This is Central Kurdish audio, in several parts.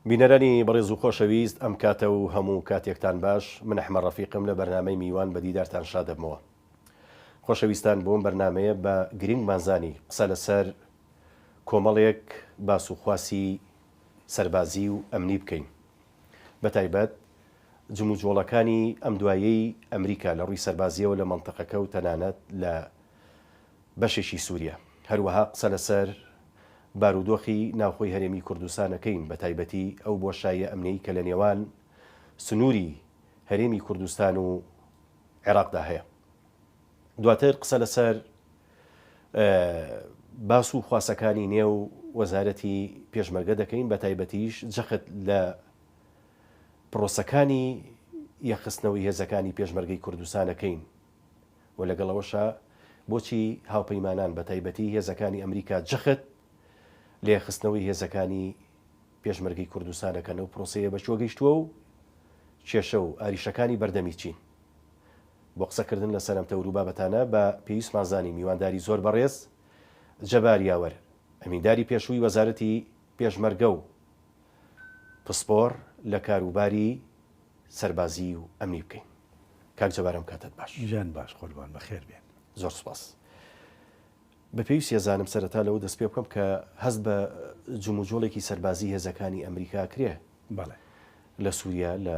بینەرانی بەڕێز و خۆشەویست ئەم کاتە و هەموو کاتێکتان باش من ئەحمە ڕەفیقم لە بەرنمەی میوان بە دیدارتان شادەبمەوە خۆشەویستان بۆم بەرنمەیە بە گرنگ مازانی قسە لەسەر کۆمەڵێک باس و خواسی سەربازی و ئەمنی بکەین بەتایبەت جموجۆڵەکانی ئەم دواییەی ئەمریکا لە ڕووی سەربازییەوە لە مەنتەقەکە و تەنانەت لە بەشێکی سووریە. هەروەها قسە لەسەر بارودۆخی ناوخۆی هەرێمی کوردستان ئەکەین، بەتایبەتی ئەو بۆشاییە ئەمنیەی کە لە نێوان سنووری هەرێمی کوردستان و عێراقدا هەیە. دواتر قسە لەسەر باس و خواسەکانی نێو وەزارەتی پێشمەرگە دەکەین بە تایبەتیش جەخت لە پرۆسەکانی یەخستنەوەی هێزەکانی پێشمەرگەی کوردستانەکەین و لەگەڵەوەشە بۆچی هاوپەیمانان بە تایبەتی هێزەکانی ئەمریکا جەخت لە یەخستنەوەی هێزەکانی پێشمەرگەی کوردستانەکەن و پرۆسەیە بەچوە گەیشتووە و کێشە و ئاریشەکانی بەردەمی چین بۆ قسە کردن لە سەر ئەم تەور و بابەتانە بە پێویستمان زانی میوانداری زۆر بەڕێز جەبار یاوەر ئەمینداری پێشووی وەزارەتی پێشمەرگە و پسپۆڕ لە کاروباری سەربازی و ئەمنی بکەین. کاک جەبار ئەم کاتەت باش. ژیان باش قوربان بەخێر بێن. زۆر سوپاس. بە پێویست یەزانم سەرەتا لەوە دەست پێ بکەم کە هەست بە جموجۆڵێکی سەربازی هێزەکانی ئەمریکا کرێ بەڵێ لە سووریا لە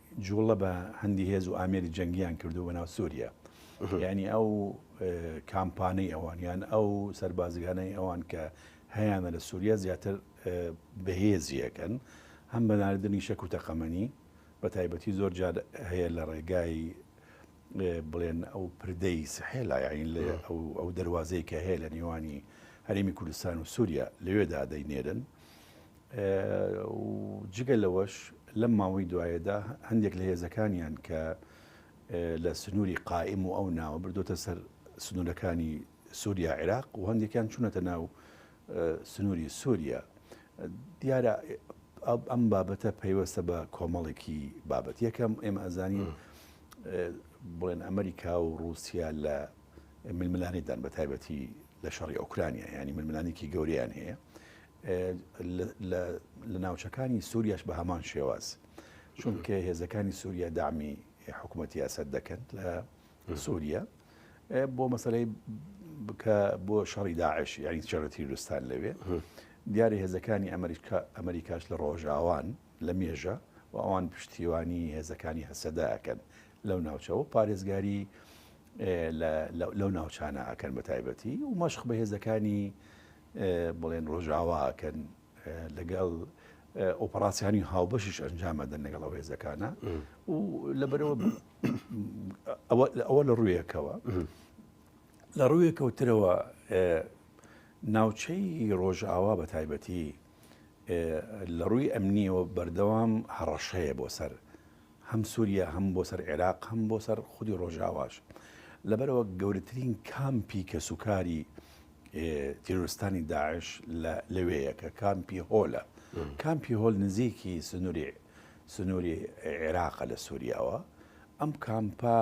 جوڵە بە هەندی هێز و ئامێری جەنگیان کردووە بە ناو سوریا یعنی ئەو کامپانەی ئەوان یان ئەو سەربازگانەی ئەوان کە هەیانە لە سووریا زیاتر بەهێزیەکەن هەم بە ناردنی شەک و تەقەمەنی بە تایبەتی زۆر جار هەیە لە ڕێگای بڵێن ئەو پردەی سحێلا یاین لە ئەو دەواازەیە کە هەیە لە نێوانی هەرێمی کوردستان و سووریا لەوێدا دەینێرن و جگە لەوەش لەم ماوەی دوایەدا هەندێک لە هێزەکانیان کە لە سنووری قائیم و ئەو ناوە بردوتە سەر سنوورەکانی سووریا عێراق و هەندێکیان چوونەتە ناو سنووری سووریا دیارە ئەم بابەتە پەیوەستە بە کۆمەڵێکی بابەت یەکەم ئێمە ئەزانین بڵێن ئەمریکا و رووسیا لە ململانێدان بە تایبەتی لە شەڕی ئۆکرانیا ینی ململانێکی گەوریان هەیە لە ناوچەکانی سوریاش بە هەمان شێواز چونکە هێزەکانی سوریا دامی حکوومەتی ئەسەد دەکەن لە سوریا بۆ مەسلەی بکە بۆ شەڕی داعش یاری چێڕە تیرستان لەوێ دیارە هێزەکانی ئەمریکا ئەمریکاش لە ڕۆژاوان لە مێژە و ئەوان پشتیوانی هێزەکانی هەسەدا ئەکەن لەو ناوچەوە پارێزگاری لەو ناوچانە ئەکەن بە تایبەتی و مەشق بە هێزەکانی بڵێن ڕۆژاوا ئەکەن لەگەڵ ئۆپەراسیانی هاوبەشش ئەنجام ئەدەن لەگەڵ ئەو هێزەکانە و لەبەرەوە ئەوە لە ڕوویەکەوە لە ڕوویە کەوترەوە ناوچەی ڕۆژاوا بە تایبەتی لە ڕووی ئەمنیەوە بەردەوام هەڕەشەیە بۆ سەر هەم سووریا هەم بۆ سەر عێراق هەم بۆ سەر خودی ڕۆژاواش لەبەرەوە گەورەترین کامپی کەسوکاری تیرۆرستانی داعش لەوێیە کە کامپی هۆلە کامپی هۆل نزیکی سنووری سنووری عێراقە لە سووریاوە ئەم کامپا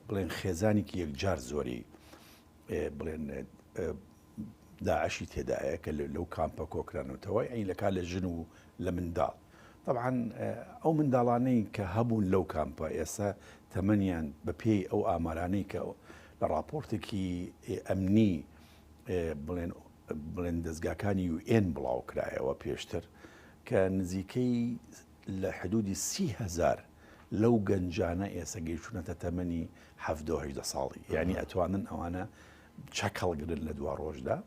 بڵێن خێزانێکی یەکجار زۆری بڵێن داعشی تێدایە کە لەو کامپە کۆکرانەوەتەوە ئەی لە کا لە ژن و لە منداڵ طبعا ئەو منداڵانەی کە هەبوون لەو کامپە ئێستا تەمەنیان بە پێی ئەو ئامارانەی کە لە ڕاپۆرتێکی ئەمنی بڵێن بڵێن دەستگاکانی یو ئێن بڵاو کرایەوە پێشتر کە نزیکەی لە حدودی سی هزار لەو گەنجانە ئێسە گەیشتونەتە تەمەنی هەهدە ساڵی یعنی ئەتوانن ئەوانە چەک هەڵگرن لە دوا ڕۆژدا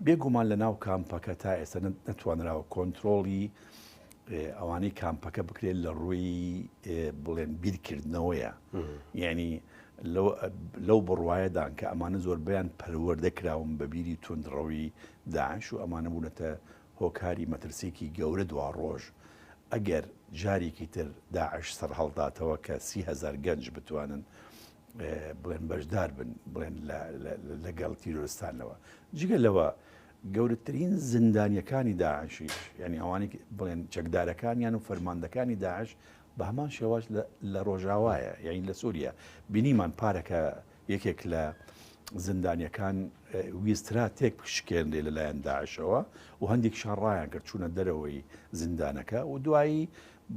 بێگومان لە ناو کامپەکە تا ئێستا نەتوانراوە کۆنتترۆڵی ئەوانەی کامپەکە بکرێت لە ڕووی بڵێن بیرکردنەوەیە یعنی لەو بڕواایەدان کە ئەمانە زۆربیان پەروەەردە کراون بە بیری تونندڕەوی داعش و ئەمانە بوونەتە هۆکاری مەترسێکی گەورە دوا ڕۆژ ئەگەر جارێکی تر داعش سەر هەڵداتەوە کە سیهزار گەنج بتوانن بڵێن بەشدار بن بڵێن لەگەڵ تیرۆستانەوە جگە لەوە گەورەترین زیندانیەکانی داعشیش یانی ئەوانەی بڵێن چەکدارەکانیان و فەرماندەکانی داعش بە هەمان شێواز لە ڕۆژاوایە یانی لە سووریە بینیمان پارەکە یەکێک لە زیندانیەکان ویسترا تێک پشکێنێ لەلایەن داعشەوە و هەندێکشان ڕایان کرد چوونە دەرەوەی زیندانەکە و دوایی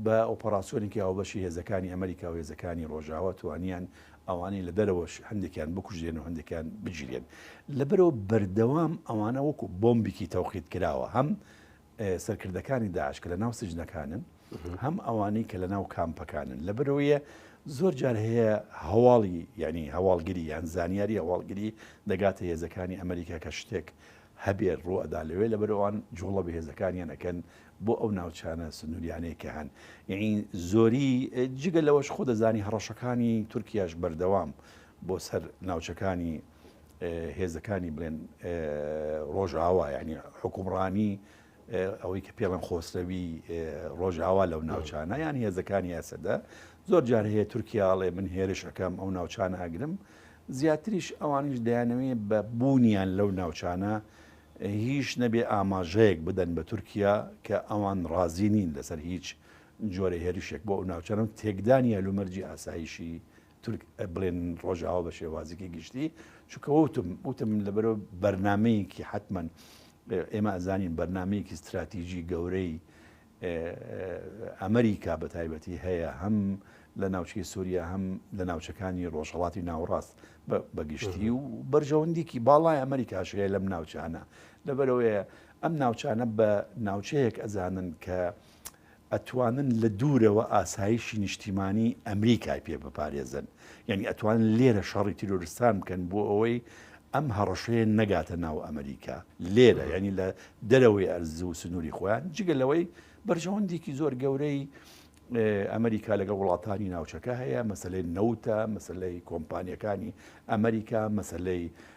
بە ئۆپەراسیۆنێکی هاوبەشی هێزەکانی ئەمریکا و هێزەکانی ڕۆژاوا توانیان ئەوانەی لە دەرەوەش هەندێکیان بکوژێنن و هەندێکیان بگیرێن. لەبەرئەوە بەردەوام ئەوانە وەکو بۆمبیکی تەوقیتکراوە هەم سەرکردەکانی داعش کە لە ناو سجنەکانن هەم ئەوانەی کە لە ناو کامپەکانن لەبەرەوەیە زۆر جار هەیە هەواڵی یعنی هەواڵگری یان زانیاری هەواڵگری دەگاتە هێزەکانی ئەمریکا کە شتێک هەبێت ڕوئەدا لەوێ لە بەرەوان جوڵە بە هێزەکانیان ئەەکەن بۆ ئەو ناوچانە سنووریانەی کە هەن، یەعنی زۆری جگە لەوەش خۆ دەزانی هەڕەشەکانی تورکیاش بەردەوام بۆ سەر ناوچەکانی هێزەکانی بڵێن ڕۆژاوا یعنی حکومڕانی ئەوەی کە پێڵم خۆسرەوی ڕۆژاوا لەو ناوچانە یان هێزەکانی ئەسەدە زۆر جار هەیە تورکیاڵێ من هێرش ئەەکەم ئەو ناوچانە ئەگرم زیاتریش ئەوانیش دەیانەوێ بە بوونیان لەو ناوچانە هیچ نەبێ ئاماژەیەک بدەن بە تورکیا کە ئەوان ڕازی نین لەسەر هیچ جۆرە هێرشێک بۆ ئەو ناوچانە و تێکدانی هەلومەرجی ئاسایشی تورک بڵێن ڕۆژاوا بە شێوازێکی گشتی چونکە وتم وتم لەبەرەوە بەرنمەیەکی حتمما ئێمە ئەزانین بەرنمەیەکی استراتیژی گەورەی ئەمریکا بە تایبەتی هەیە هەم لە ناوچەی سوریا هەم لە ناوچەکانی ڕۆژهەڵاتی ناوەڕاست بە گشتی و بەرژەوەندیکی باڵای ئەمریکاش هەیە لەم ناوچانە لەبەرەوەیە ئەم ناوچانە بە ناوچەیەک ئەزانن کە ئەتوانن لە دوورەوە ئاسایشی نیشتیمانی ئەمریکای پێ بپارێزن یانی ئەتوانن لێرە شەڕی تیرۆرستان بکەن بۆ ئەوەی ئەم هەڕەشەیە نەگاتە ناو ئەمریکا لێرە یانی لە دەرەوەی ئەرز و سنووری خۆیان جگە لەوەی بەرژەوەندێکی زۆر گەورەی ئەمریکا لەگە وڵاتانی ناوچەکە هەیە مەسلەی نەوتە مەسلەی کۆمپانیەکانی ئەمریکا مەسلەی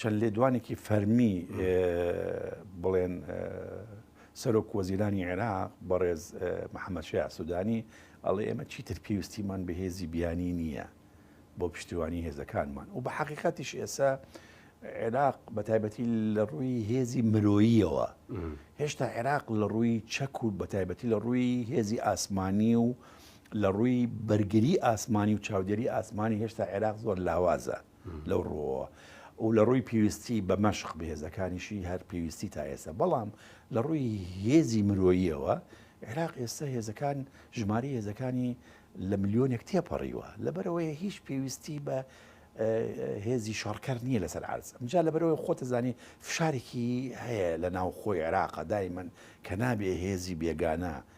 چەند لێدوانێکی فەرمی بڵێن سەرۆک وەزیرانی عێراق بەڕێز محەممەشەیە سوودانی ئەڵێ ئێمە چیتر پێویستیمان بە هێزی بیانی نییە بۆ پشتیوانی هێزەکانمان و بە حقیقەتیش ئێسا عێراق بە تایبەتی لە ڕووی هێزی مرۆییەوە هێشتا عێراق لە ڕووی چەک و بە تایبەتی لە ڕووی هێزی ئاسمانی و لە ڕووی بەرگری ئاسمانی و چاودێری ئاسمانی هێشتا عێراق زۆر لاوازە لەو ڕوەوە و لە ڕووی پێویستی بە مەشق بەهێزەکانیشی هەر پێویستی تا ئێستا بەڵام لە ڕووی هێزی مرۆییەوە عێراق ئێستا هێزەکان ژماری هێزەکانی لە ملیۆنێک تێپەڕیوە لەبەرەوەی هیچ پێویستی بە هێزی شەڕکەر نییە لەسەر عرز ئەمجا لەبەرەوەی خۆتەزانی فشارێکی هەیە لە ناو خۆی عێراقا دایمەن کە نابێ هێزی بێگانە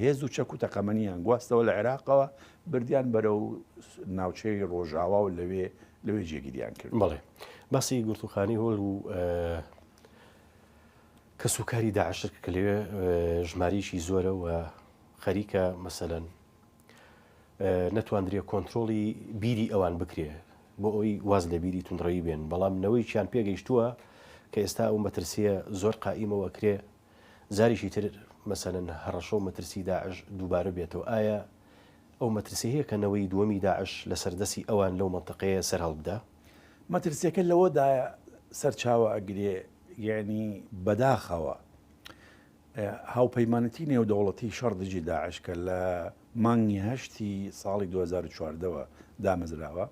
هێز و چەک و تەقەمەنییان گواستەوە لە عێراقەوە بردیان بەرەو ناوچەی ڕۆژاوا و لەوێ لەوێ جێگیریان کرد. بەڵێ باسی گرتوخانی هۆل و کەس و کاری داعشر کە لەوێ ژماریشی زۆرە و خەریکە مەسەەن نەتواندرێ کۆنتترۆڵی بیری ئەوان بکرێ بۆ ئەوی واز لە بیری تونڕەوی بێن بەڵام نەوەیکیان پێگەیشتووە کە ئێستا ئەو مەترسیە زۆر قائیمەوە کرێ جاریکی تر مەسەلەن هەڕەشە و مەترسی داعش دووبارە بێتەوە، ئایا ئەو مەترسیە هەیە کە نەوەی دووەمی داعش لەسەر دەستی ئەوان لەو مەنتەقەیە سەر هەڵبدا؟ مەترسیەکە لەوەدایە سەرچاوە ئەگرێ، یەعنی بەداخەوە هاوپەیمانەتی نێودەوڵەتی شەڕ دژی داعش کە لە مانگی هەشتی ساڵی دوو هەزار و چواردە وە دامەزراوە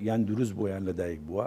یان دروست بووە یان لەدایک بووە،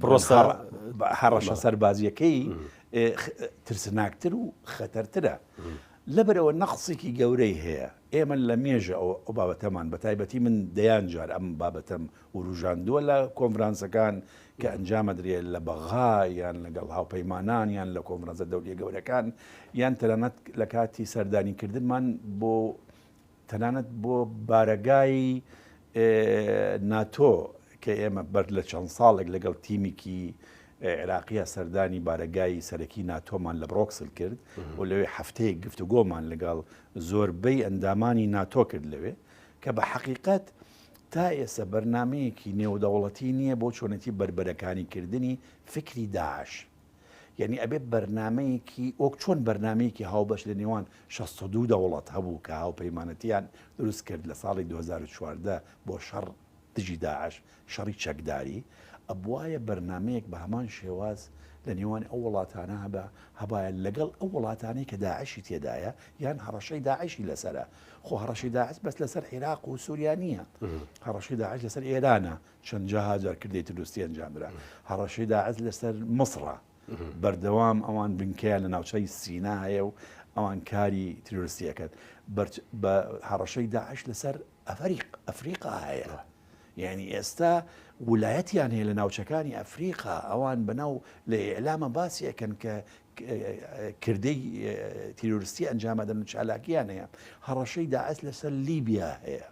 پرۆسە هەڕەشە سەربازیەکەی ترسناکتر و خەتەرترە لەبەرەوە نەقسێکی گەورەی هەیە ئێمە لە مێژە ئەو ئەو بابەتەمان بە تایبەتی من دەیان جار ئەم بابەتەم وروژاندووە لە کۆنفرانسەکان کە ئەنجامەدرێ لە بەغا یان لەگەڵ هاوپەیمانان یان لە کۆمرەزە دەوریە گەورەکان یان تەنانەت لە کاتی سەردانیکردنمان بۆ تەنانەت بۆ بارەگای ناتۆ کە ئێمە بەر لە چەند ساڵێک لەگەڵ تیمێکی عێراقیە سەردانی بارەگای سەرەکی ناتۆمان لە بڕۆکسل کرد و لەوێ هەفتەیە گفتوگۆمان لەگەڵ زۆربەی ئەندامانی ناتۆ کرد لەوێ کە بە حەقیقت تا ئێستا بەرنمەیەکی نێودەوڵەتی نییە بۆ چۆنێتی بربەرەکانی کردنی فکری داعش یەنی ئەبێت بەرنامەیەکی وەک چۆن بەرنمەیەکی هاوبەش لە نێوان 62 دەوڵەت هەبوو کە هاوپەیمانەتیان دروست کرد لە ساڵی 2014 بۆ شەڕ دژی داعش شەڕی چەکداری ئەبواە بەرنمەیەک بە هەمان شێواز لە نێوان ئەو وڵاتانە هەبە هەبایە لەگەڵ ئەو وڵاتانی کە داعشی تێدایە یان هەڕەشەی داعشی لەسرە خۆ هەڕەشی داعش بەس لەسەر عێراق و سووریا نییە هەڕەشی داعش لەسەر ئێرانە چەندەها جار کردەی تروسکی ئەنجامدرا. هەڕەشەی داعش لەسەر مصڕە بەردەوام، ئەوان بنکەیان لە ناوچەی سینا هەیە و ئەوان کاری تروسکی ئەکەن. هەڕەشەی داعش لەسەر ئەفریقا هەیە. یانی ئێستا ولایەتیان هەیە لە ناوچەکانی ئەفریقا، ئەوان بەناو لە ئیعلامە باسی ئەکەن کە کردەی تروسکی ئەنجامەدەن و چالاکیان هەیە. هەڕەشەی داعش لەسەر لیبیا هەیە.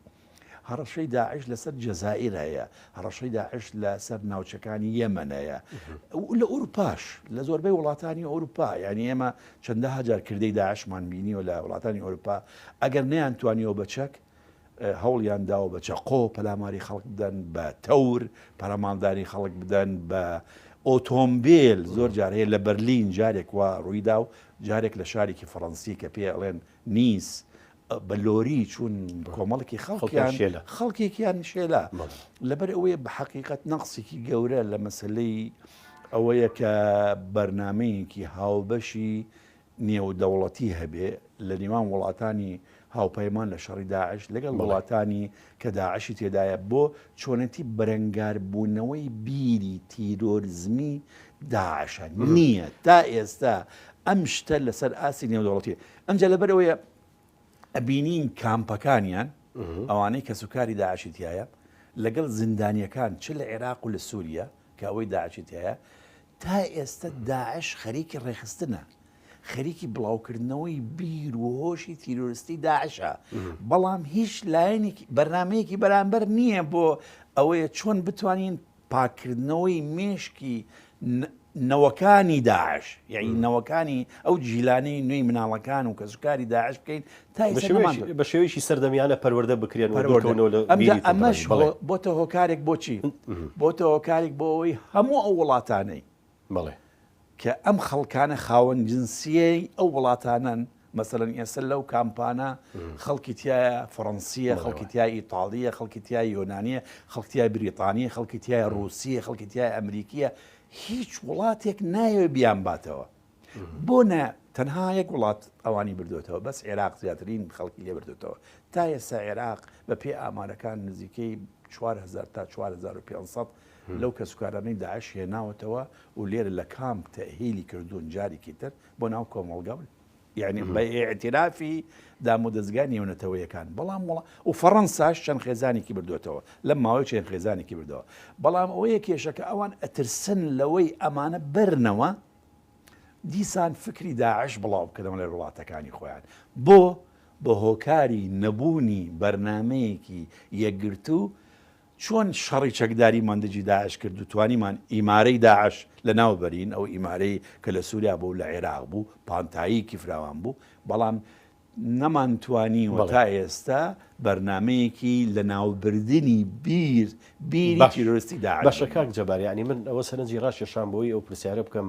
هەڕەشەی داعش لەسەر جەزائیر هەیە، هەڕەشەی داعش لە سەر ناوچەکانی یەمەن هەیە. لە ئوروپاش لە زۆربەی وڵاتانی ئەوروپا یانی ئێمە چەندە هەجار کردەی داعشمان بینیوە لە وڵاتانی ئەوروپا ئەگەر نیان توانیەوە بە چەک هەوڵیان داوە بە چەقۆ پەلاماری خەڵک بدەن بە تەور پەرەماڵدانی خەڵک بدەن بە ئۆتۆمبیل زۆر جارەیە لە بەرلین جارێک وا ڕوویدا و جارێک لە شارێکی فەڕەنسی کە پێ ئەڵێن نیس بە لۆری چوون کۆمەڵکی خەڵکیان خەڵکێکیان شێلا لەبەر ئەوەیە بە حقیقت نەقسێکی گەورە لە مەسلەی ئەوەیە کە بەرنمەیەکی هاوبەشی نێودەوڵەتی هەبێ لە نێوان وڵاتانی هاوپەیمان لە شەڕی داعش لەگەڵ وڵاتانی کە داعشی تێدایە بۆ چۆنەتی بەرەنگاربوونەوەی بیری تیرۆرزمی داعشە نییە تا ئێستا ئەم شتە لەسەر ئاسی نێودەوڵەتی ئەمجا لەبەر ئەوەیە ئەبینین کامپەکانیان ئەوانەی کەس و کاری داعشی تایە لەگەڵ زیندانیەکان چ لە عێراق و لە سووریا کە ئەوەی داعشی تایە تا ئێستا داعش خەریکی ڕێخستنە خەریکی بڵاوکردنەوەی بیر و هۆشی تیرۆرستی داعشە بەڵام هیچ لایەنێکی بەرنمەیەکی بەرامبەر نییە بۆ ئەوەیە چۆن بتوانین پاککردنەوەی مێشکی نەوەکانی داعش یعنی نەوەکانی ئەو جیلانەی نوێی مناڵەکان و کەسوکاری داعش بکەین تا بە شێوەیەکی سەردەمیانە پەروەەردە بکرێن ئەمەش بۆتە هۆکارێک بۆچی بۆتە هۆکارێک بۆ ئەوەی هەموو ئەو وڵاتانەی بەڵێ. کە ئەم خەڵکانە خاوەن جنسیەی ئەو وڵاتانەن، مەسەلەن ئێستا لەو کامپانە خەڵکی تایە فەڕەنسیە، خەڵکی تای ئیتاڵیە، خەڵکی تای یۆنانیە، خەڵکی تای بریتانیە، خەڵکی تای ڕووسیە، خەڵکی تای ئەمریکیە، هیچ وڵاتێک نایەوێت بیان باتەوە. بۆ نە تەنها یەک وڵات ئەوانی بردوێتەوە بەس عێراق زیاترین خەڵکی لێ بردوێتەوە تا ئێستا عێراق بە پێی ئامارەکان نزیکەی 4 هزار تا 4 هزار و 500 لەو کەسوکارانەی داعش هێناوەتەوە و لێرە لە کامپ تەئهیلی کردوون جاریکی تر بۆ ناو کۆمەڵگا و یعنی بە ئیعترافی دامودەزگا نێونەتەوەیەکان بەڵام وڵا و فەڕەنساش چەند خێزانێکی بردوێتەوە لەم ماوەی چەند خێزانێکی بردەوە بەڵام ئەوەیە کێشەکە ئەوان ئەترسن لەوەی ئەمانە بەرنەوە دیسان فکری داعش بڵاو بکەنەوە لە وڵاتەکانی خۆیان بۆ بە هۆکاری نەبوونی بەرنمەیەکی یەکگرتوو چۆن شەڕی چەکداریمان دژی داعش کرد و توانیمان ئیمارەی داعش لەناو بەرین، ئەو ئیمارەی کە لە سوریا بوو و لە عێراق بوو، پانتاییکی فراوان بوو، بەڵام نەمانتوانیوە تا ئێستا بەرنامەیەکی لەناوبردنی بیر بیری تیرۆرستی داعش بێت. باشە کاک جەبار یانی من ئەوە سەرنجی ڕاکێشام بۆی ئەو پرسیارە بکەم،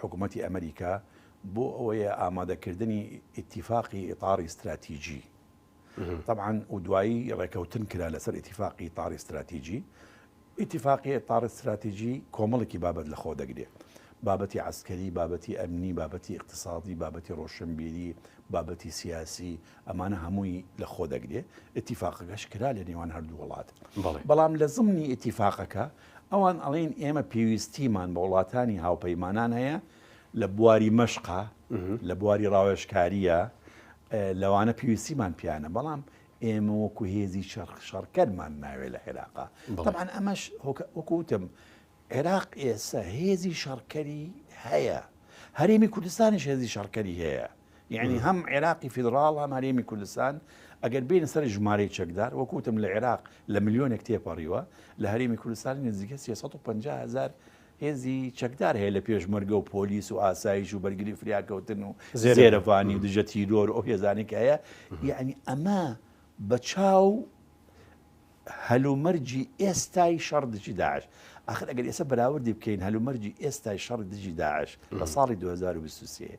حکومەتی ئەمریکا بۆ ئەوەیە ئامادەکردنی ئیتیفاقی ئیتاڕی ستراتیجی تەبعاان و دوایی ڕێکەوتن کرا لەسەر ئیتیفاقی ئیتاڕی ستراتیجی ئیتیفاقی ئیتاڕ ستراتیجی کۆمەڵێکی بابەت لە خۆ دەگرێت بابەتی عسکەری بابەتی ئەمنی بابەتی اقتصادی بابەتی ڕۆشنبیری بابەتی سیاسی ئەمانە هەمووی لە خۆ دەگرێت اتفاقەکەش کرا لە نێوان هەردوو وڵات بەڵام لە زمنی اتفاقەکە ئەوان ئەڵێن ئێمە پێویستیمان بە وڵاتانی هاوپەیمانان هەیە لە بواری مەشقە، لە بواری ڕاوێژکارییە، لەوانە پێویستیمان پیانە بەڵام ئێمە وەکو هێزی شەرق شەڕکەرمان ناوێت لە عێراقا تەبان ئەمەش وەکوتم عێراق ئێستا هێزی شەڕکەری هەیە هەرێمی کوردستانیش هێزی شەڕکەری هەیە یعنی هەم عێراقی فیدڕاڵ هەم هەرێمی کوردستان ئەگەر بینە سەر ژمارەی چەکدار وەکوتم لە عێراق لە ملیۆنێک تێپەڕیوە لە هەرێمی کوردستانی نزیکە 350 هزار هێزی چەکدار هەیە لە پێشمەرگە و پۆلیس و ئاسایش و بەرگری فریاکەوتن و زێرەڤانی و دژە تیرۆر ئەو هێزانێک هەیە یعنی ئەمە بە چاو هەلومەرجی ئێستای شەڕ دژی داعش ئاخر ئەگەر ئێستا بەراوردی بکەین هەلومەرجی ئێستای شەڕ دژی داعش لە ساڵی 2023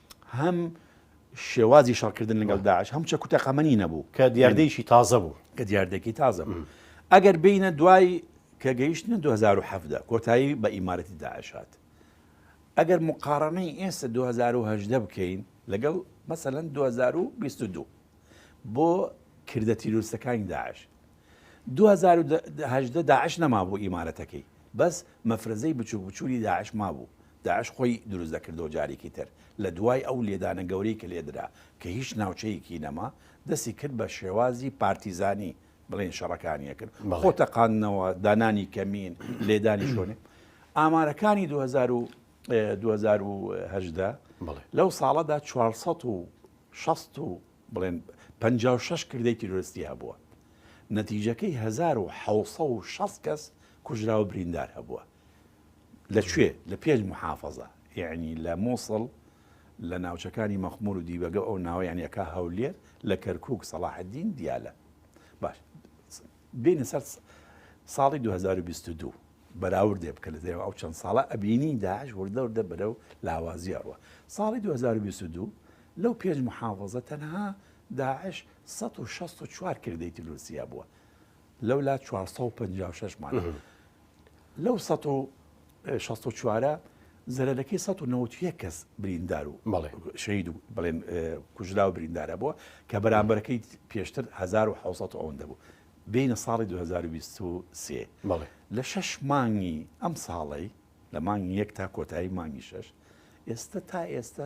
هەم شێوازی شەڕکردن لەگەڵ داعش هەم چەک و تەقەمەنی نەبوو کە دیاردەیەکی تازە بوو کە دیاردەکی تازە بوو ئەگەر بینە دوای کە گەیشتنە 2017 کۆتایی بە ئیمارەتی داعش هات ئەگەر مقارنەی ئێستا 2010 بکەین لەگەڵ مەسەەن 2022 بۆ کردە تیرۆستەکانی داعش دوو هەزار و هەژدە داعش نەمابوو ئیمارەتەکەی بەس مەفرەزەی بچوک بچولی داعش مابوو داعش خۆی دروست دەکردەوە جاریکی تر لە دوای ئەو لێدانە گەورەی کە لێدرا کە هیچ ناوچەیەکی نەما دەستی کرد بە شێوازی پارتیزانی بڵێن شەڕەکانی ئەکرد خۆ تەقاندنەوە دانانی کەمین لێدانی شۆنێ ئامارەکانی 2000 و 2010 لەو ساڵەدا 460 بڵێن پەنجا و شەش کردەی تیرۆرستی هەبووە، نەتیجەکەی هەزار و حەوت سەد و شەست کەس کوژراو و بریندار هەبووە. لە کوێ؟ لە پێنج موحافەزە، یەعنی لە موسڵ، لە ناوچەکانی مەخمور و دیبەگە و ئەو ناوەیانی ئەکا هەولێر، لە کەرکووک، سەڵاحەدین، دیالە. باش. بێنە سەر ساڵی دوو هەزار و بیست و دوو بەراوردێ بکە لە دەێوە ئەو چەند ساڵە ئەبینی داعش وردە وردە بەرە و لاوازی ئەڕوە ساڵی 2022 لەو پێنج محافظە تەنها داعش 1664 کردەی تلوسیا بووە لەولا 456 مان لەو سە و شەست و چوارە زەرەرەکەی سە و نەوت یە کەس بریندار و شەید و بڵێن کوژرا و بریندارە بووە کە بەرامبەرەکەی پێشتر 1970 ئەوەندە بوو بینە ساڵی 2023 لە شەش مانگی ئەم ساڵی لە مانگی یەک تا کۆتایی مانگی شەش ئێستا تا ئێستا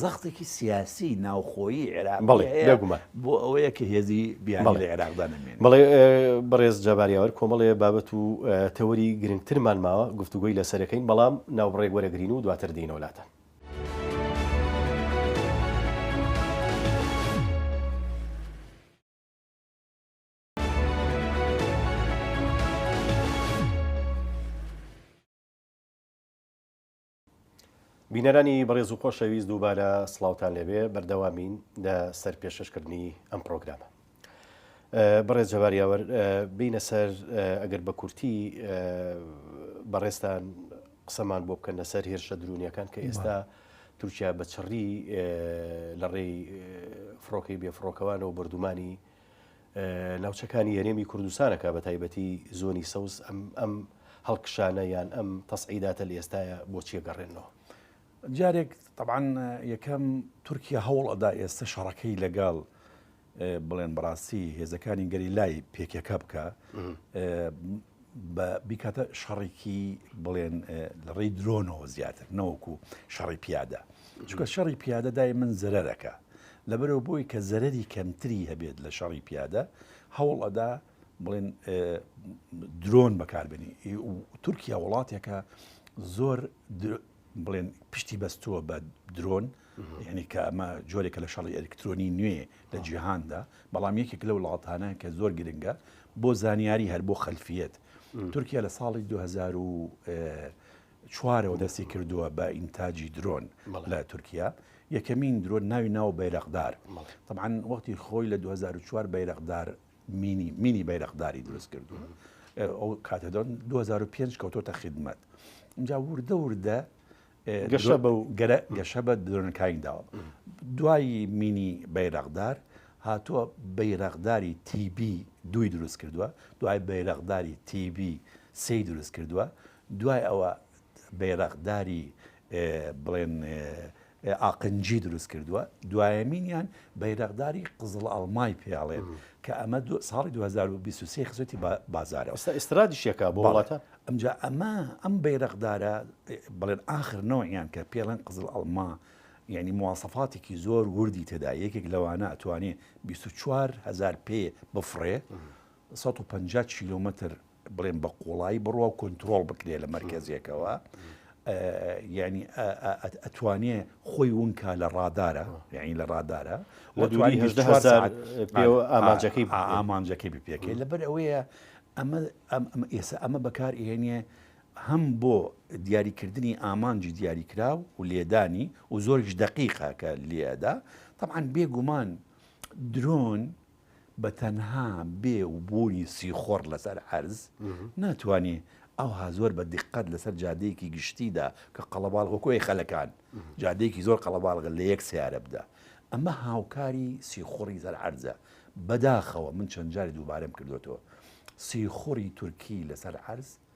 زەختێکی سیاسی ناوخۆیی عێراقی هەیە بۆ ئەوەیە کە هێزی بیانی لە عێراقدا نەمێنێت. بەڵێ بەڕێز جەبار یاوەر، کۆمەڵێ بابەت و تەوەری گرنگترمان ماوە گفتوگۆی لەسەرەکەین، بەڵام ناوبڕێک وەرەگرین و دواتر دێینەوە لاتان. بینەرانی بەڕێز و خۆشەویست دووبارە سڵاوتان لەبێ بەردەوامین لە سەر پێششکردنی ئەم پرۆگرامە بەڕێز جەواریاوەر بینە سەر ئەگەر بە کورتی بەڕێستان قسەمان بۆ بکەن لەسەر هێرشە درونیەکان کە ئێستا تورکیا بە چڕی لە ڕێی فڕۆکەی بێفڕۆکەوانەوە بردومانی ناوچەکانی هەرێمی کوردستانەکە بە تایبەتی زۆنی سەوز ئەم هەڵکشانە یان ئەم تەسعیداتە لە ئێستاە بۆچیە گەڕێنەوە جارێک طبعاان یەکەم تورکیا هەوڵ ئەدا ئێستا شەڕەکەی لەگەڵ بڵێن بڕاستی هێزەکانی گەری لای پێکەکە بکە بە بیکاتە شەڕێکی بڵێن لە ڕێی درۆنەوە زیاتر نەوەکو شەڕی پیادە چکە شەڕی پیادە دای من زەرەکە لەبەرەوە بۆی کە زەرری کەمتری هەبێت لە شەڕی پیادە هەوڵ ئەدا بڵێن درۆن بەکاربنی تورکیا وڵاتێکە زۆر بڵێن پشتی بەستووە بە درۆن یعنی کە ئەمە جۆرێکە لە شەڕی ئەلکترۆنی نوێ لە جیهاندا بەڵام یەکێک لە وڵاتانە کە زۆر گرنگە بۆ زانیاری هەر بۆ خەلفیت تورکیا لە ساڵی 2000 چوارەوە دەستی کردووە بە ئینتاجی درۆن لە تورکیا یەکەمین درۆن ناوی ناو بەیرەقدار طبعاان وەختی خۆی لە 2004 بەیرەقدار مینی مینی بەیرەقداری دروست کردووە ئەو کاتە دەن 2005 کەوتۆتە خدمەت اینجا وردە وردە گەشە بە و گەرە گەشە بە درۆنەکانی داوە دوایی مینی بەیرەقدار هاتووە بەیرەقداری تیبی دوی دروست کردووە دوای بەیرەقداری تیبی سی دروست کردووە دوای ئەوە بەیرەقداری بڵێن ئاقنجی دروست کردووە، دوایەمینیان بەیرەقداری قزڵەڵمای پێ ئەڵێن کە ئەمە ساڵی 2023 خزێتی بازارەوە. ئێستا ئیسترادیشیەکە بۆ وڵاتە؟ ئەمجا ئەمە ئەم بەیرەقدارە بڵێن ئاخر نەوەیان کە پێڵێن قزڵەڵما یعنی مواسەفاتێکی زۆر وردی تێدا یەکێک لەوانە ئەتوانێ 24 هزار پێ بفڕێ 150 کیلومتر بڵێن بە قوڵایی بڕوا و کۆنتترۆڵ بکرێت لە مەرکزیەکەوە ینی ئەتوانێ خۆی ونکە لە ڕادارە یعنی لە ڕادارە ئامانجەکەی ئامانجەکەی بپێکێ لەبەر ئەوەیە ئەمە ئێستا ئەمە بەکار ئێنە هەم بۆ دیاریکردنی ئامانجی دیاریکرا و لێدانی و زۆرش دقیقا کە لێدا طبعاان بێگومان درۆن بە تەنها بێ و بوونی سیخۆڕ لەسەر عەرز ناتوانێ ئەوها زۆر بە دیقەت لەسەر جادەیەکی گشتیدا کە قەڵەباڵ وەکۆی خەلەکان جادەیەکی زۆر قەڵەباڵغە لە یەک سیارە بدا ئەمە هاوکاری سیخوڕی سەر عەرزە بەداخەوە من چەند جاری دووبارەم کردوەوە سیخوڕی تورکی لەسەر عەرز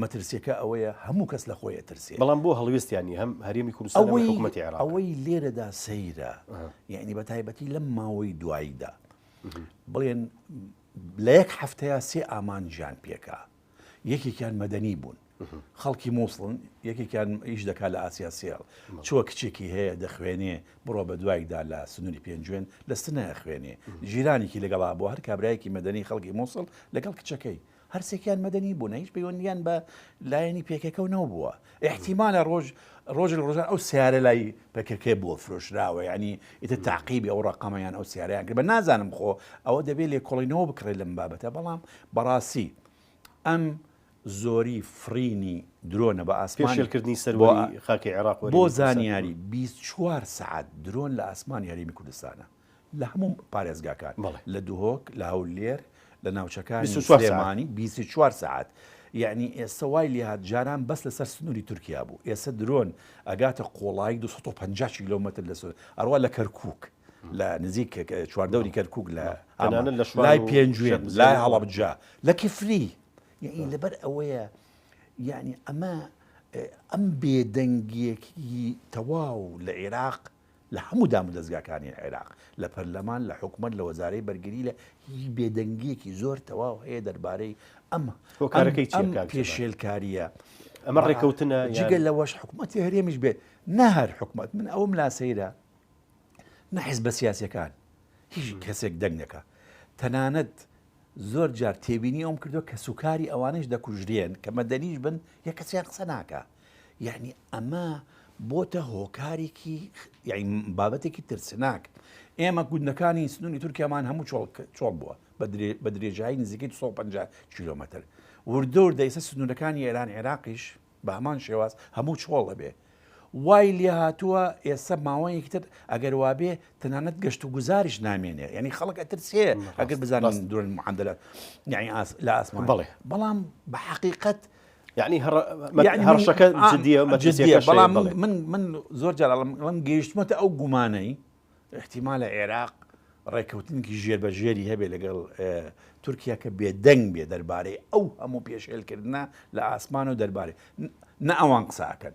مەترسیەکە ئەوەیە هەموو کەس لە خۆی ئەترسێ. بەڵام بۆ هەڵوێستیان نیە هەم هەرێمی کوردستان هەم حکومەتی عێراق. ئەوەی لێرەدا سەیرە یەعنی بە تایبەتی لەم ماوەی دواییدا بڵێن لە یەک هەفتەیە سێ ئامانجیان پێکا یەکێکیان مەدەنی بوون خەڵکی مووسڵن یەکێکیان ئیش دەکات لە ئاسیا سێڵ چوە کچێکی هەیە دەخوێنێ بڕۆ بە دوایدا لە سنووری پێنجوێن لە سنایە خوێنێ ژیرانێکی لەگەڵا بۆ هەر کابراایەکی مەدەنی خەڵکی مووسڵ لەگەڵ کچەکەی هەرسێکیان مەدەنی بوونە هیچ پەیوەندیان بە لایەنی پێکەکە و نەوبووە احتیمالە ڕۆژ ڕۆژ لە ڕۆژان ئەو سیارە لای پەکەکەی بۆ فرۆشراوە ینی ئیتە تاقیبی ئەو ڕقەمەیان ئەو سیارەیان کرد بە نازانم خۆ ئەوە دەبێت لێ کۆڵینەوە بکڕێت لەم بابەتە بەڵام بەڕاستی ئەم زۆری فڕینی درۆنە بە ئاسمانشێلکردنی سەروەی خاکی عێراق بۆ زانیاری 24 سعات درۆن لە ئاسمان یاریمی کوردستانە لە هەموو پارێزگاکان لە دهۆک لە هەولێر لە ناوچەکانی سلێمانی بیست و چوار سەعات یعنی ئێستا وای لێهات جاران بەس لەسەر سنووری تورکیا بوو ئێستا درۆن ئەگاتە قۆڵایی 250 کیلومتر لە سوور ئەڕوا لە کەرکک لە نزیک چواردەوری کەرکک لە ئەمانە لە شوای پێنجوێن لای هەڵەبجە لە کفری یعنی لەبەر ئەوەیە یعنی ئەمە ئەم بێدەنگیەکی تەواو لە عێراق لە هەموو دامودەزگاکانی عێراق، لە پەرلەمان، لە حکومەت، لە وەزارەی بەرگری لە هیچ بێدەنگییەکی زۆر تەواو هەیە دەربارەی ئەم هۆکارەکەی چیە کاک جەمال؟ پێشێلکارییە ئەمە ڕێکەوتنە جگە لەوەش حکومەتی هەرێمیش بێت نە هەر حکومەت من ئەوم لا سەیرە نە حزبە سیاسەکان هیچ کەسێک دەنگ نەکا تەنانەت زۆر جار تێبینی ئەوم کردو کە سوکاری ئەوانش دەکوژرێن کە مەدەنیش بن یە کەسیان قسە ناکە یەعنی ئەمە بۆتە هۆکارێکی بابەتێکی ترسناک ئێمە گوندەکانی سنووری تورکیامان هەموو چۆڵ بووە بە درێژایی نزیکەی 150 کیلومتر وردەور دەیسە سنوورەکانی ئێران عێراقیش بە هەمان شێواز هەموو چۆڵ دەبێ وای لێ هاتووە ئێستا ماوەیەکی تر ئەگەر وابێ تەنانەت گەشت و گوزاریش نامێنێ ینی خەڵک ئەترسێ ئەگەر بزانین درۆن معادلات یعنی لە ئاسمان بڵێ بەڵام بە حقیقت یعنی هەڕشەکە جدیە مەجزیە بەڵام من من زۆر جارڵم ڵم گەیشتمەتە ئەو گومانەی احتیما لە عێراق ڕێککەوتنێکی ژێر بە ژێری هەبێ لەگەڵ تورکیا کە بێدەنگ بێ دەربارەی ئەو هەموو پێشێلکردە لە ئاسمان و دەربارەی نە ئەوان قساکەن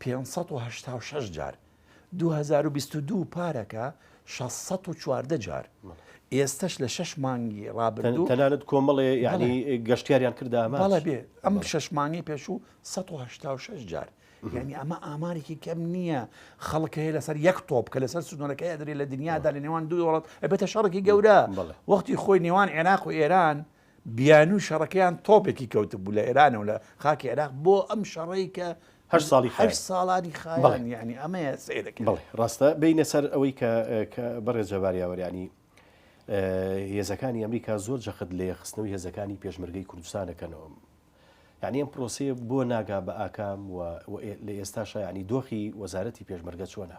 پێنج سەد و هەشتا و شەش جار دوو هەزار و بیست و دوو پارەکە شەش سەد و چواردە جار ئێستەش لە شەش مانگی ڕابردوو تەنانەت کۆمەڵێ یعنی گەشتیاریان کردا ئەمە بەڵێ بێ ئەم شەش مانگی پێشوو 1970 جار یعنی ئەمە ئامارێکی کەم نییە خەڵک هەیە لەسەر یەک تۆپ کە لەسەر سنوورەکەی ئەدرێ لە دنیادا لە نێوان دوو وڵات ئەبێتە شەڕێکی گەورە وەختی خۆی نێوان عێراق و ئێران بیانوی شەڕەکەیان تۆپێکی کەوتبوو لە ئێرانەوە لە خاکی عێراق بۆ ئەم شەڕەی کە هەشت ساڵی خایاند. هەشت ساڵانی خایاند. بەڵێ. یانی ئەمەیە سەیر دەکرێت. بەڵێ ڕاستە، بێینە سەر ئەوەی کە کە بەڕێز جەبار یاوەر یانی ئە هێزەکانی ئەمریکا زۆر جەخت لە یەخستنەوەی هێزەکانی پێشمەرگەی کوردستان دەکەنەوە. یانی ئەم پرۆسەیە بۆ ناگا بە ئاکام و و ئێ لە ئێستاشا یانی دۆخی وەزارەتی پێشمەرگە چۆنە؟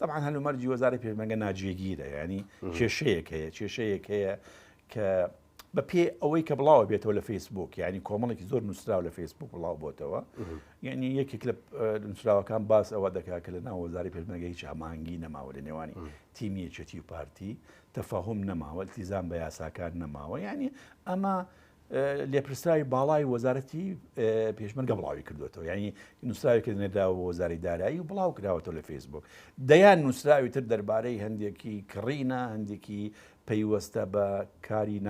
تەبعەن هەلومەرجی وەزارەی پێشمەرگە ناجێگیرە یعنی کێشەیەک هەیە کێشەیەک هەیە کە بە پێ ئەوەی کە بڵاوە بێتەوە لە فەیسبوک یعنی کۆمەڵێکی زۆر نووسراو لە فەیسبوک بڵاو بۆتەوە یعنی یەکێک لە نووسراوەکان باس ئەوە دەکا کە لە ناوەزاری پێشمەگە هیچ هەمانگی نەماوە لە نێوانی تیمی یەکێتی و پارتی تەفاهم نەماوە التیزان بە یاساکان نەماوە یعنی ئەمە لێپرسراوی باڵای وەزارەتی پێشمەرگە بڵاویکردوێتەوە ینی نووسراوی کردنێدا وەزاری دارایی و بڵاو کراوەەوە لە فەیسبوک دەیان نووسراوی تر دەربارەی هەندێکی کڕینە هەندێکی پەیوەستە بە کاری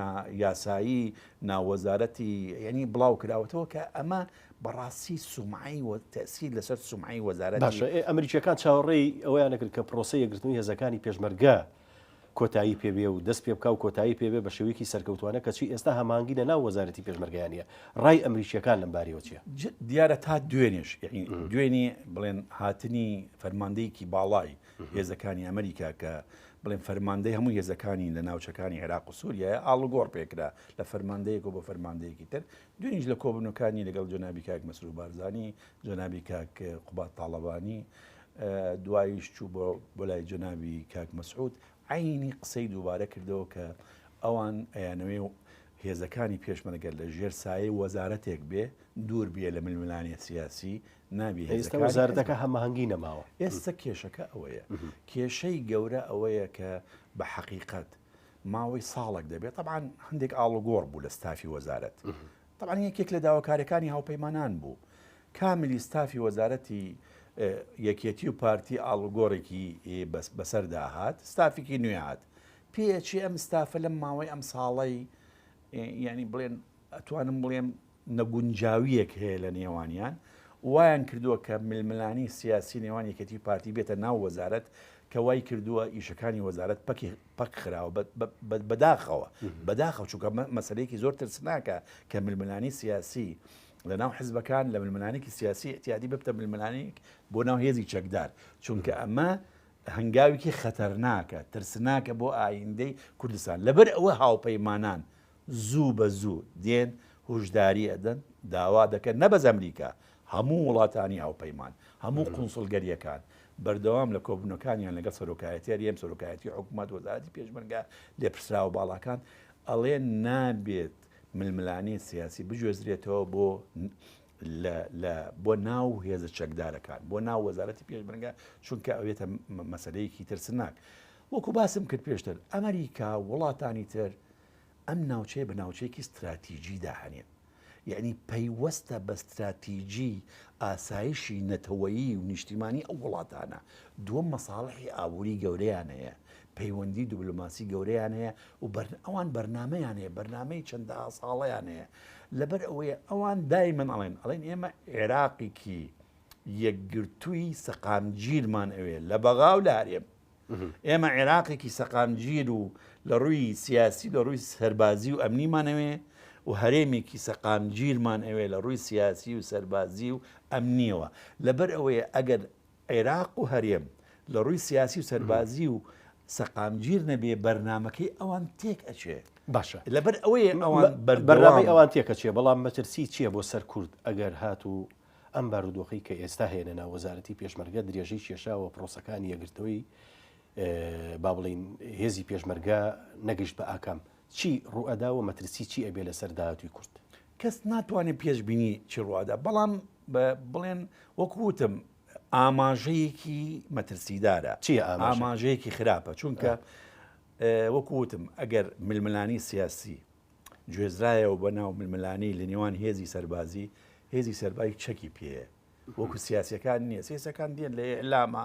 یاسایی ناوەزارەتی ینی بڵاو کراوەتەوە کە ئەمە بەڕاستی سومایی و تەسیر لەسەر سومایی وەزارەت باشە ئەمریکیەکان چاوەڕێی ئەویان نەکرد کە پرۆسی یەگرتنی هێزەکانی پێشمەرگە کۆتایی پێ بێ و دەست پێ بکا و کۆتایی پێ بێ بە شێوەیەکی سەرکەوتوانە کەچی ئێستا هەماهەنگی لە ناو وەزارەتی پێشمەرگەیا نیە. ڕای ئەمریکییەکان لەم بارەیەوە چیە؟ دیارە تا دوێنێش یەعنی دوێنێ بڵێن هاتنی فەرماندەیەکی باڵای هێزەکانی ئەمریکا کە بڵێن فەرماندەی هەموو هێزەکانی لە ناوچەکانی عێراق و سووریایە ئاڵوگۆڕ پێکرا لە فەرماندەیەک و بۆ فەرماندەیەکی تر دوێنیش لە کۆبنەکانی لەگەڵ جەنابی کاک مەسرور بارزانی جەنابی کاک قوباد تاڵەبانی دواییش چوو بۆ بۆ لای جەنابی کاک مەسعود عەینی قسەی دووبارە کردەوە کە ئەوان ئەیانەوێ و هێزەکانی پێشمەرگە لە ژێر سایەی وەزارەتێک بێ دوور بێ لە ململانێ سیاسی نابێ ئێستا هێزەکانی حزب- وەزارەتەکە هەماهەنگی نەماوە ئێستا کێشەکە ئەوەیە کێشەی گەورە ئەوەیە کە بە حەقیقەت ماوەی ساڵێک دەبێت طبعا هەندێک ئاڵوگۆڕ بوو لە ستافی وەزارەت طبعا یەکێک لە داواکاریەکانی هاوپەیمانان بوو کاملی ستافی وەزارەتی یەکێتی و پارتی ئاڵوگۆڕێکی بەسەردا هات، ستافێکی نوێ هات، پێ ئەچێ ئەم ستافە لەم ماوەی ئەم ساڵەی یانی بڵێن ئەتوانم بڵێم نەگونجاویەک هەیە لە نێوانیان وایان کردووە کە ململانی سیاسی نێوان یەکێتی پارتی بێتە ناو وەزارەت کە وای کردووە ئیشەکانی وەزارەت پەکی پەک خراوە بەداخەوە بەداخە چووکە مەسلەیەکی زۆر ترسناکە کە ململانی سیاسی لە ناو حزبەکان لە ململانێکی سیاسی ئتیادی ببتە ململانێک بۆ ناو هێزی چەکدار چونکە ئەمە هەنگاوێکی خەتەرناکە ترسناکە بۆ ئایندەی کوردستان لەبەر ئەوە هاوپەیمانان زوو بە زوو دێن هوشداری ئەدەن داوا دەکەن نەبەز ئەمریکا هەموو وڵاتانی هاوپەیمان هەموو قونسڵگەریەکان بەردەوام لە کۆبوونەکانیان لەگەڵ سەرۆکایەتیار یەم سەرۆکایەتی حکوومەت وەزارەتی پێشمەرگە لێپرسراوە باڵاکان ئەڵێ نابێت ململانێی سیاسی بگوێزرێتەوە بۆ بۆ ناو هێزە چەکدارەکان بۆ ناو وەزارەتی پێشمەرگە چونکە ئەوێتە مەسلەیەکی ترسناک وەکو باسم کرد پێشتر ئەمریکا وڵاتانی تر ئەم ناوچەیە بە ناوچەیەکی استراتیژی داهێن یعنی پەیوەستە بە استراتیژی ئاسایشی نەتەوەیی و نیشتیمانی ئەو وڵاتانە دووەم مەساڵحی ئابووری گەورەیان هەیە پەیوەندی دبلۆماسی گەورەیان هەیە و ئەوان بەرنمەیان هەیە بەرنمەی چەندە ساڵەیان هەیە لەبەر ئەوەیە ئەوان دای من ئەڵێن ئەڵێن ئێمە عێراقیکی یەکگرتووی سەقامگیرمان ئەوێ لە بەغا و لە هەرێم ئێمە عێراقێکی سەقامگیر و لە ڕووی سیاسی لە ڕووی سەربازی و ئەمنیمانەوێ و هەرێمێکی سەقامگیرمان ئەوێ لە ڕووی سیاسی و سەربازی و ئەمنیەوە لەبەر ئەوەیە ئەگەر عێراق و هەرێم لە ڕووی سیاسی و سەربازی و سەقامگیر نەبێ بەرنمەکەی ئەوان تێک ئەچێ باشە لەبەر ئەوەیە ئەوان بەرنامەی ئەوان تێکەچێ بەڵام مەترسی چییە بۆ سەر کورد ئەگەر هات و ئەم بارودۆخی کە ئێستا هێنە ناو وەزارەتی پێشمەرگە درێژەی کێشاوە پرۆسەکانی یەگرتووی با بڵین هێزی پێشمەرگە نەگەشت بە ئاکام چی ڕوئەدا و مەترسی چی ئەبێ لەسەر داهاتوی کورد کەس ناتوانێت پێشببینی چی ڕوادا بەڵام بڵێن وەکو وتم ئاماژەیەکی مەترسیدارە چی ئاماژەیەکی خراپە چونکە وەکو وتم ئەگەر ململانی سیاسی گوێزرایەوە بە ناو ململانی لە نێوان هێزی سەربازی هێزی سەربای چەکی پێ وەکو سیاسەکان نییە سێسەکان دێن لە ئەلامە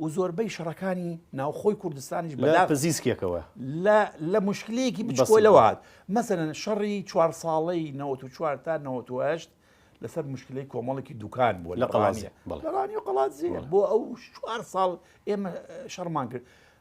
و زۆربەی شەڕەکانی ناوخۆی کوردستانیش بە لە پزیسکێکەوە لە لە مشکلەیەکی بچکۆلەوە هات مەسەلەن شەڕی چوار ساڵەی نەوەت و چوار تا نەوەت و هەشت لەسەر مشکلەی کۆمەڵێکی دوکان بووە لە قەڵازیە لەڕانی و قەڵات زیێ بۆ ئەو چوار ساڵ ئێمە شەڕمان کرد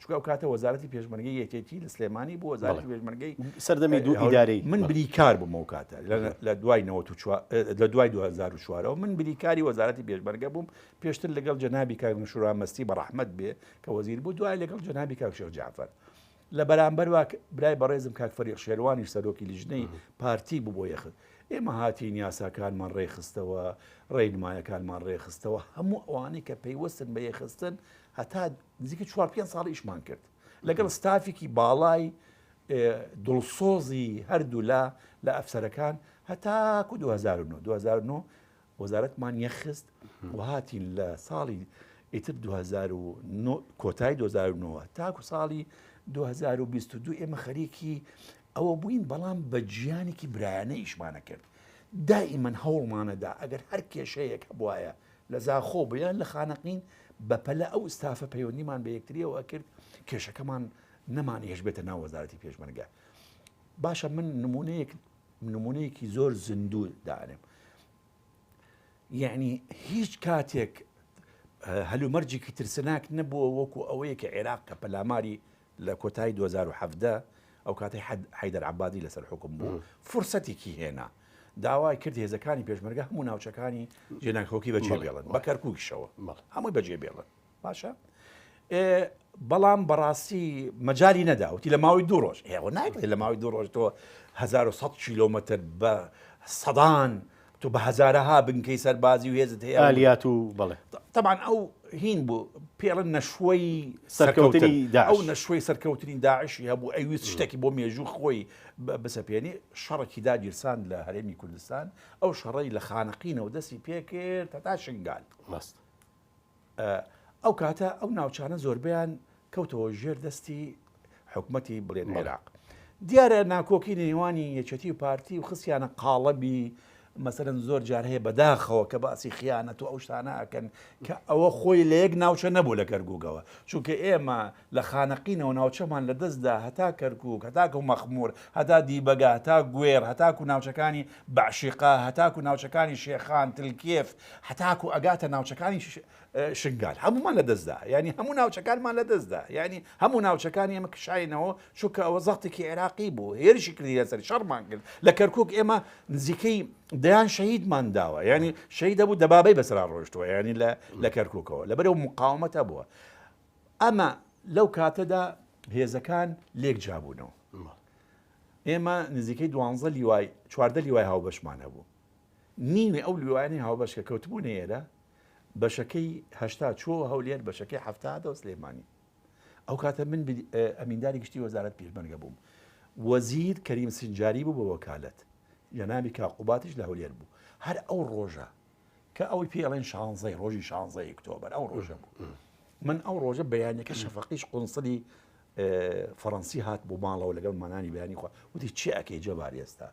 چونکە ئەو کاتە وەزارەتی پێشمەرگەی یەکێتی لە سلێمانی بوو وەزارەتی پێشمەرگەی سەردەمی دوو ئیدارەی من بریکار بووم ئەو کاتە لە دوای لە دوای 2004ەوە من بریکاری وەزارەتی پێشمەرگە بووم پێشتر لەگەڵ جەنابی کاگنشورا مەستی بە ڕەحمەت بێ کە وەزیر بوو دوای لەگەڵ جەنابی کاکشێخ جعفر لە بەرامبەر واک برای بەڕێزم کاک فەریق شێروانیش سەرۆکی لیژنەی پارتی بوو بۆ یەخت ئێمە هاتین یاساکانمان ڕێخستەوە ڕێنمایەکانمان ڕێخستەوە هەموو ئەوانەی کە پەیوەستن بە یەخستن هەتا نزیکەی چوار پێنج ساڵ ئیشمان کرد لەگەڵ ستافێکی باڵای دڵسۆزی هەردوولا لە ئەفسەرەکان هەتاکو 2009 2009 وەزارەتمان یەخست و هاتین لە ساڵی ئیتر 2009 کۆتای 2009 تاکو ساڵی 2022 ئێمە خەریکی ئەوە بووین بەڵام بە جیانێکی برایانە ئیشمانە کرد دائیمەن هەوڵمانەدا ئەگەر هەر کێشەیەک هەبواە لە زاخۆ بوو یان لە خانەقین بە پەلە ئەو ستافە پەیوەندیمان بە یەکتریەوە ئەکرد کێشەکەمان نەمان هێشبێتە ناو وەزارەتی پێشمەرگە باشە من نمونەیەک نمونەیەکی زۆر زیندوو دانێم یعنی هیچ کاتێک هەلومەرجێکی ترسناک نەبووە وەکو ئەوەیە کە عێراق کە پەلاماری لە کۆتایی دوو هەزار و حەڤدە ئەو کاتەی حەیدەر عەبادی لەسەر حوکم بوو، فرسەتێکی هێنا، داوای کرد هێزەکانی پێشمەرگە هەموو ناوچەکانی جێناکۆکی بەجێ بێڵن، بە کەرکووکیشەوە هەمووی بەجێ بێڵن، باشە؟ بەڵام بەڕاستی مەجای نەدا وتی لە ماوەی دوو ڕۆژ هێوە ناکرێت لە ماوەی دوو ڕۆژ تۆ 1970 کیلومتر بە سەدان تۆ بە هەزارەها بنکەی سەربازی و هێزت هەیە و ئالیات و بەڵێ. تەبعەن ئەو هین بوو پێڵن نەشوەی سەرکەوتن ئەو نەشوەی سەرکەوتنی داعشی هەبوو ئەویست شتێکی بۆ مێژوو خۆی بسەپێنی شەڕێکی داگیرسان لە هەرێمی کوردستان ئەو شەڕی لە خانەقینەوە دەستی پێکرد هەتا شنگال ڕاست ئەو کاتە ئەو ناوچانە زۆربیان کەوتەوە ژێر دەستی حکومەتی بڵێن عێراق دیارە ناکۆکی نێوانی یەکەتی و پارتی و خسیانە قاڵەبی مەسەرەن زۆر جار هەیە بەداخەوە کە باسی خیانەت و ئەو شتانە ئەکەن کە ئەوە خۆی لە یەک ناوچە نەبوو لە گەرگوگەوە چونکە ئێمە لە خانەقینەوە ناوچەمان لە دەست دا هەتا کەرکووک، هەتاکو مەخموور، هەتا دیبەگە، هەتا گوێڕ، هەتاکو ناوچەکانی بەعشیقە، هەتاکو ناوچەکانی شێخان، تلکێف، هەتاکو ئەگاتە ناوچەکانی شنگال هەموومان لە دەست دا، یانی هەموو ناوچەکانمان لە دەست دا، یانی هەموو ناوچەکانی ئێمە کشاینەوە، چونکە ئەوە زەغتێکی عێراقی بوو، هێرشی کردی لەسەری، شەڕمان کرد، لە کەرکووک ئێمە نزیکەی دەیان شەهیدمان داوە، یانی شەهید هەبوو دەبابەی بەسەرا ڕۆیشتووە، یانی لە کەرکووکەوە لەبەرئەو موقاومەتە بووە. ئەمە لەو کاتەدا هێزەکان لێک جابوونەوە ئێمە نزیکەی دوانزە لیوای چواردە لیوای هاوبەشمان هەبوو نیوی ئەو لیوانی هاوبەش کە کەوتبوو نێرە بەشەکەی هەشتا چۆ هەولێر بەشەکەی هەفتا دە سلێمانی ئەو کاتە من ئەمینداری گشتی وەزارت پیرمەرگە بووم وەزیر کەریم سنجاری بوو بە وەکالەت جەناوی کاقوباتیش لە هەولێر بوو هەر ئەو ڕۆژە کە ئەوەی پێ ئەڵێن شانزەی ڕۆژی شانزەی ئۆکتۆبەر ئەو ڕۆژە بوو من ئەو ڕۆژە بەیانەکە شەفەقیش قنسلی فەڕەنسی هات بۆ ماڵەوە لەگەڵ مانانی بەیانی خۆ وتی چی ئەکەی جەبار ئێستا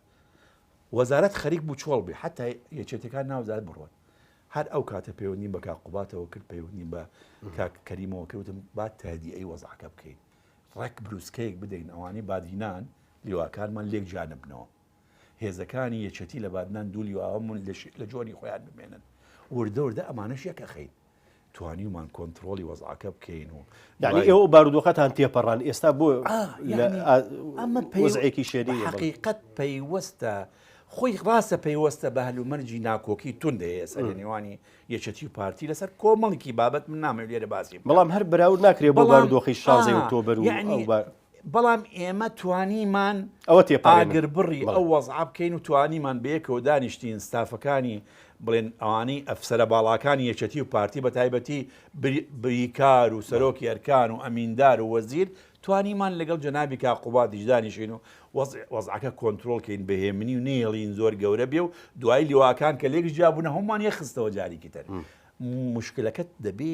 وەزارەت خەریک بوو چۆڵ بێ حتا یەچێتەکان ناوزار بڕۆن هەر ئەو کاتە پەیوەندیم بە کاقوباتەوە کرد پەیوەندیم بە کاکەریمەوە کردم با تادی ئەی وەزعکە بکەین ڕێک بروسکەیەک بدەین ئەوانەی بادینان لیواکانمان لێک جانبنەوە هێزەکانی یەکێتی لە بادنان دوو لیواوەمون لە جۆنی خۆیان بمێنن وردە وردە ئەمانەش یەک ئەخەین توانیومان کۆنتترۆلی وەزعکە بکەین و یعنی ئێوە بارودۆخەتان تێپەڕان ئێستا بۆ ئەمە پێزعێکی شێری حقیقت پەیوەستە خۆی ڕاستە پەیوەستە بە هەلومەرجی ناکۆکی تون دەیە سەر نێوانی یەکەتی و پارتی لەسەر کۆمەڵکی بابەت من نامێ لێرە باسی بەڵام هەر براود ناکرێت بەڵام دۆخی شازی تۆبەر و بەڵام ئێمە توانیمان ئەوە تێپەڕێنین. ئاگربڕی بەڵێ. ئەو وەزعە بکەین و توانیمان بەیەکەوە دانیشتین ستافەکانی بڵێن ئەوانەی ئەفسەرە باڵاکانی یەکێتی و پارتی بە تایبەتی بری بریکار و بەڵێ. سەرۆکی ئەرکان و ئەمیندار و وەزیر توانیمان لەگەڵ جەنابی کاک قوبادیش دانیشین و وەزع وەزعەکە کۆنترۆڵ کەین بە هێمنی و نەیڵین زۆر گەورە بێ و دوایی لیواکان کە لێکس جیابوونە هەموومان یەک خستەوە جاریکی تر موشکلەکە دەبێ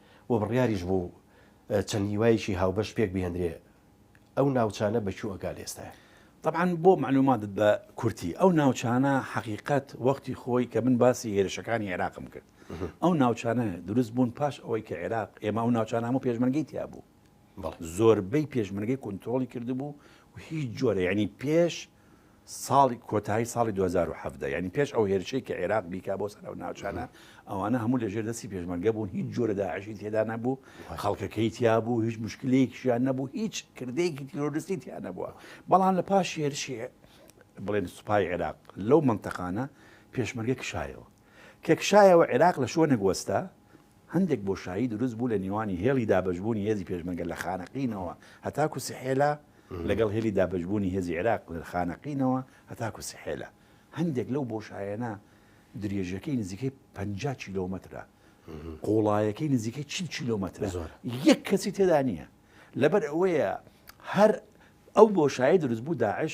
و بڕیاریش بوو چەند هیوایەکی هاوبەش پێک بهێندرێ ئەو ناوچانە بە کوو ئەگا لە ئێستایا؟ تەبعەن بۆ مەعلووماتت بە کورتی ئەو ناوچانە حەقیقەت وەختی خۆی کە من باسی هێرشەکانی عێراقم کرد ئەو ناوچانە دروست بوون پاش ئەوەی کە عێراق ئێمە ئەو ناوچانە هەموو پێشمەرگەی تیا بوو زۆربەی پێشمەرگەی کۆنترۆڵی کردبوو و هیچ جۆرە یعنی پێش ساڵی کۆتایی ساڵی 2017 ینی پێش ئەو هێرشەی کە عێراق بیکا بۆ سەر ئەو ناوچانە ئەوانە هەموو لە ژێر دەستی پێشمەرگە بوون هیچ جۆرە داعشی تێدا نەبوو خەڵکەکەی تیا بوو هیچ مشکلەیەکیان نەبوو هیچ کردەیەکی تیرۆرستی تیا نەبووە بەڵام لە پاش هێرشی بڵێن سوپای عێراق لەو منتەقانە پێشمەرگە کشایەوە کە کشایەوە عێراق لە شوۆنێک وەستا هەندێک بۆشایی دروست بوو لە نێوانی هێڵی دابەشبوونی هێزی پێشمەرگە لە خانەقینەوە هەتاکوو سحێلا لەگەڵ هێلی دابەشبوونی هێزی عێراق لە خانەقینەوە هەتاکوو سحێلا. هەندێک لەو بۆشایانە درێژەکەی نزیکەی پەنجا کیلۆمەترە، قووڵایەکەی نزیکەی چل کیلۆمەترە، یەک کەسی تێدا نییە. لەبەر ئەوەیە هەر ئەو بۆشایەی دروست بوو داعش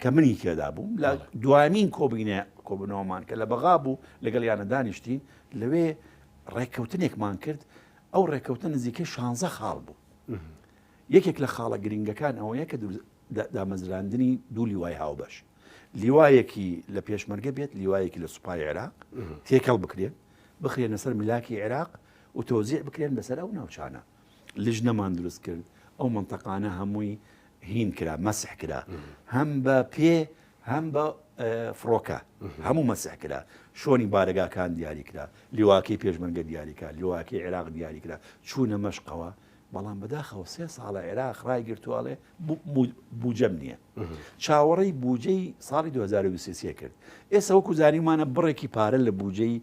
کە منی تێدا بووم لە دوایین کۆبینە کۆبنەوەمان کە لە بەغا بوو لەگەڵ یانە دانیشتین لەوێ ڕێککەوتنێکمان کرد ئەو ڕێککەوتن نزیکە شانزە خاڵ بوو یەکێک لە خاڵە گرنگەکان ئەوەیە کە دامەزراندنی دوو لیوای هاوبەش لیوایەکی لە پێشمەرگە بێت لیوایەکی لە سوپای عێراق تێکەڵ بکرێن بخرێنە سەر ملاکی عێراق و تۆزیع بکرێن بەسەر ئەو ناوچانە لیژنەمان دروست کرد ئەو منتەقانە هەمووی هین کرا مەسح کرا هەم بە پێ هەم بە فڕۆکە هەموو مەسح کرا شۆنی بارگاکان دیاری کرا لیواکەی پێشمەرگە دیاریکە لیواکەی عێراق دیاری کرا چوونە مەشقەوە بەڵام بەداخەوە سێ ساڵە عێراق ڕای گرتوواڵێ بجەم نییە چاوەڕی بجەی ساڵی 2023 کرد ئێستا وەکو زانیمانە بڕێکی پارە لە بجەی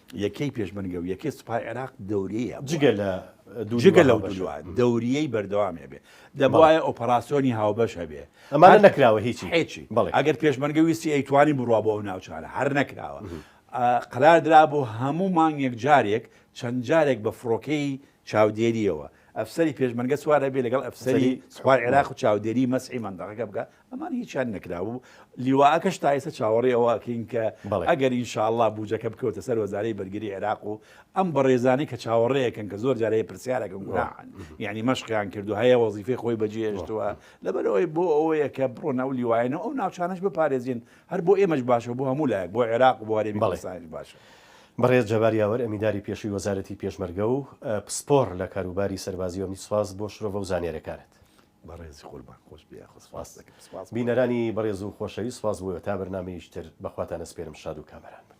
یەکەی پێشمەرگە و یەکەی سوپای عێراق دەوریەیە جگە لە جگە لەو دووە دەوریەی بەردەوام هەبێ دەبواە ئۆپەراسسیۆنی هاوبەش هەبێ ئەمانە نەکراوە هیچی هیچی بەڵێ ئەگەر پێشمەرگە ویستی ئەیتوانی بڕوا بۆ ئەو ناوچانە هەر نەکراوە قرار درا بۆ هەموو مانگێک جارێک چەند جارێک بە فڕۆکەی چاودێریەوە ئەفسری پێشمەرگە سوارە بێ لەگەڵ ئەفسری سوپای عێراق و چاودێری مەسی مندەقەکە بکە ئەمان هیچیان نەکرابوو لیواکەش تا ئێستا چاوەڕێ ئەوە ئەکەین کە ئەگەر ئینشاءاللە بودجەکە بکەوتە سەر وەزارەی بەرگری عێراق و ئەم بەڕێزانەی کە چاوەڕێیەکەن کە زۆر جارەیە پرسیارەکە گوناحن یعنی مەشقیان کردو هەیە وەزیفەی خۆی بەجێهێشتووە لەبەرەوەی بۆ ئەوەیە کە بڕۆن ئەو لیوایەنە ئەو ناوچانەش بپارێزین هەر بۆ ئێمەش باشە بۆ هەموو لایەک بۆ عێراق و بۆ هەرێمی کوردستانیش باشە. بەڕێز جەبار یاوەر ئەمینداری پێشووی وەزارەتی پێشمەرگە و پسپۆڕ لە کاروباری سەربازی ئەمنی سپاس بۆ شرۆڤە و زانیارییەکانت. بەڕێز قوربان خۆش بێ یاخوا سپاس دەکەم بینەرانی بەڕێز و خۆشەویست سپاس بۆ تا بەرنامەیش تر بەخواتان ئەسپێرم شاد و کامەران بن.